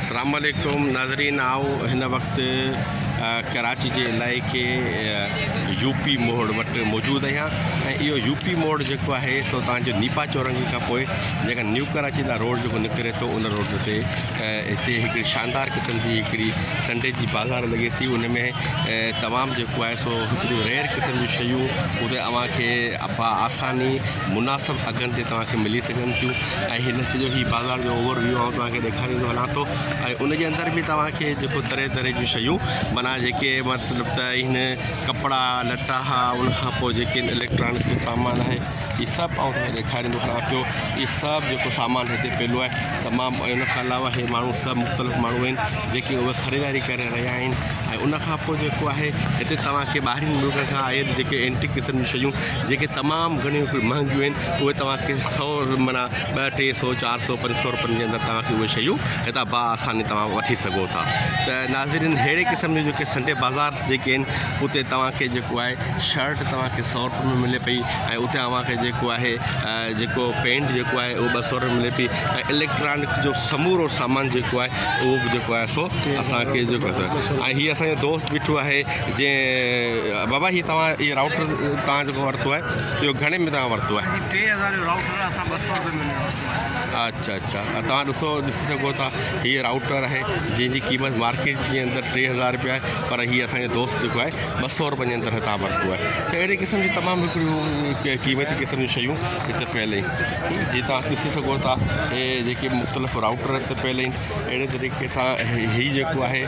اسلام عليڪم ناظرين آئون هن وقت ڪراچي جي علائقي يو پي موڙ وٽ موجود آهيان ۽ اهو يو پي موڙ جيڪو آهي سو توهان جو نيپا چورنگي کان پوء جيڪا نيو ڪراچي لاء روڊ جيڪو نڪري ٿو ان روڊ تي هتي هڪڙي شاندار قسم جي هڪڙي سنڊي جي بازار لڳي ٿي ان ۾ تمام جيڪو آهي سو هڪڙيون ريئر قسم جون شيون اتي اوهان کي با آساني مناسب اگهن تي توهان کي ملي سگهن ٿيون ۽ هن سڄو هي بازار جو اوور ويو آئون توهان کي ڏيکاريندو هلان ٿو ۽ ان جي اندر به توهان کي جيڪو طرح طرح جون شيون معنيٰ جيڪي مطلب ته هن ڪپڙا لٽا ها ان کان پوء جيڪي اليڪٽرانڪ جو سامان آهي هي سڀ آئون توهان کي ڏيکاريندو هلان پيو هي سڀ جيڪو سامان هتي پيلو آهي تمام ۽ ان کان علاوه هي ماڻهو سڀ مختلف ماڻهو آهن جيڪي اهي خريداري ڪري رهيا آهن ۽ ان کان پوء جيڪو آهي هتي توهان کي ٻاهرين ملڪن کان آيل جيڪي اينٽيڪ قسم جون شيون جيڪي تمام گهڻيون مهنگيون آهن اهي توهان کي سئو معنيٰ ٻه ٽي سئو چار سئو پنج سئو رپين جي اندر توهان کي اهي شيون هتان با آساني توهان وٺي سگهو ٿا ته ناظرين ههڙي قسم جون جيڪي سنڊي بازار جيڪي آهن اتي توهان کي جيڪو آهي شرٽ توهان کي سئو رپين ۾ ملي پئي ۽ اتي اوهان کي جيڪو آهي جيڪو پينٽ جيڪو آهي اهو ٻه سئو رپين ملي پئي ۽ اليڪٽرانڪ جو سمورو سامان جيڪو آهي اهو به جيڪو آهي سو اسان کي جيڪو آهي ۽ هي اسان جو دوست بيٺو آهي جنهن بابا هي توهان هي راوٽر توهان جيڪو ورتو آهي اهو گهڻي ۾ توهان ورتو آهي؟ جي ٽي هزار جو رائوٽر آهي اسان ٻه سؤ روپين ۾ ورتو آهي سر. اچ اچ توهان ڏسو ڏسي سگهو ٿا هي رائوٽر آهي جنهن جي قيمت مارڪيٽ جي اندر ٽي هزار روپيا آهي پر هي اسان جو دوست جيڪو آهي ٻه سؤ روپين جي اندر هتان ورتو آهي ته اهڙي قسم جي تمام هڪڙيون قيمتي قسم جون شيون هتي پيل آهن جي توهان ڏسي سگهو ٿا هي جيڪي مختلف رائوٽر هتي پيل آهن اهڙي طريقي سان هي جيڪو آهي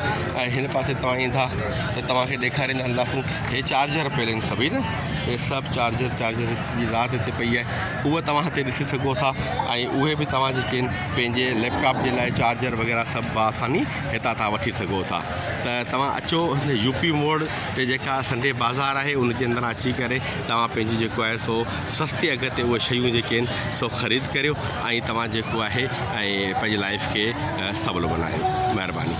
۽ هن پاسي توهان ايندا ته توهان کي ڏيکاريندا هلنداسون هي چارجر پيل آهن سڀئي نه هي سڀ چارجر چارجر جي ذات هتي پئي آهي اهو توهان هتي ڏسي سگهو ٿا ۽ اهي به توهان جيڪي آهن پنهنجي ليپ ٽاپ جي لاء چارجر وغيره سڀ با آساني هتان تان وٺي سگهو ٿا ته توهان اچو يو پي موڙ تي جيڪا سنڊي بازار آهي ان جي اندران اچي ڪري توهان پنهنجي جيڪو آهي سو سستي اگهه تي اهي شيون جيڪي آهن سو خريد ڪريو ۽ توهان جيڪو آهي ۽ پنهنجي لائف کي سولو بنايو مهرباني